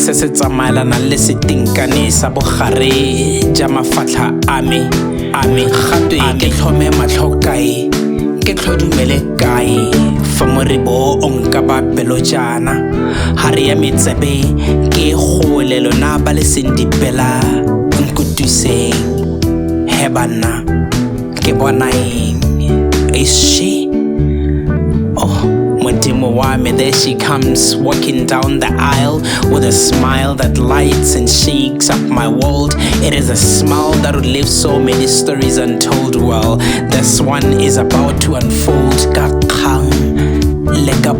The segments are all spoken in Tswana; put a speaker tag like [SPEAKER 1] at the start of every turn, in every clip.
[SPEAKER 1] se se tsamaelanang le setinkane sa bogare ja mafatlha a me a me gatwe ke tlhome matlho kae ke tlhodumele kae fa moribo o nka ba pelo jang bana ha re ya metsebe ke gole lona ba le seng dipela nkutuseng he bana ke bona eng ese Mohammed, there she comes, walking down the aisle with a smile that lights and shakes up my world. It is a smile that would leave so many stories untold. Well, this one is about to unfold.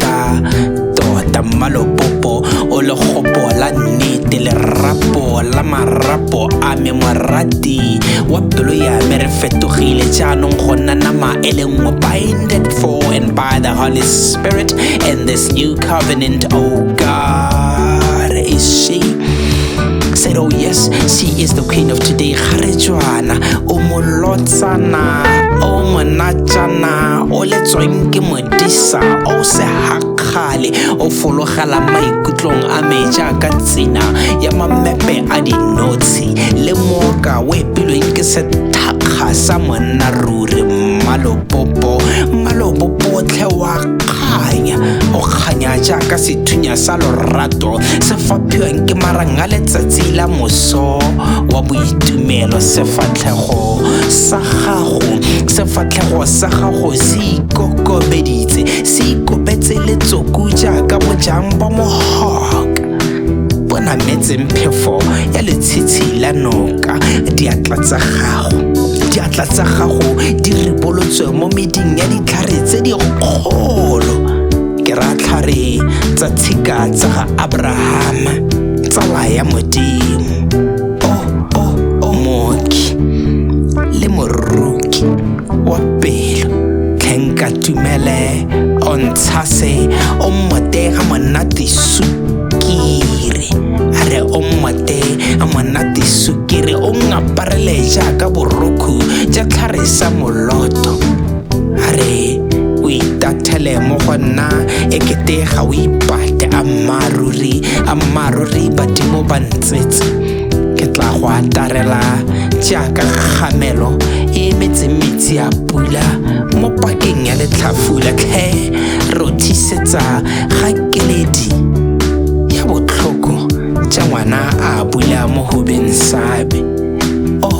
[SPEAKER 1] ka tota mmalopopo o legopo la nnete lerapo la marapo a me morati wa pelo ya me re fetogile jaanong go nna nama e le nngwe binded for and by the holy spirit and this new covenant oh god is she said oh yes she is the queen of today ga re jwana o molotsana o monatjana o letsweng ke mo disa o se hakgale o fologela maikutlong a me jaaka tsena ya mamepe a dinotshe le moka o epilweng ke sethakga sa monna ruri mmalopopo mmalopopotlhe wa kganya o kganya jaaka sethunya sa lorato se faphiwang ke marang a letsatsi la moso wa boitumelo sefatlhego sa gago sefa sefatlhego sa gago se ikokobeditse se ikobetse letsoku jaaka bojang bo mogoka bo nametseng phefo ya letshitshi la noka diatla tsa gago diatla tsa gago di ribolotswe mo meding ya ditlhare tse dikgolo ke ra tlhare tsa tshika tsa ga abrahama tsala ya modimo mooki le moroki wa pelo tlhenka tumele o ntshase o mmotega monate sukiri a re o mmote a monate sukiri o ngaparele jaaka borokhu ja tlhare sa moloto a re o itathele mo go nna e kete ga o ipate a mmaaruri a mmaaruri badimo ba ntse tsetse ke tla go atarela jaaka kgamelo e emetse metsi a pula mo pakeng ya letlhafula tlhe rothisetsa ga keledi ya botlhoko ja ngwana a bula mo hobeng sabe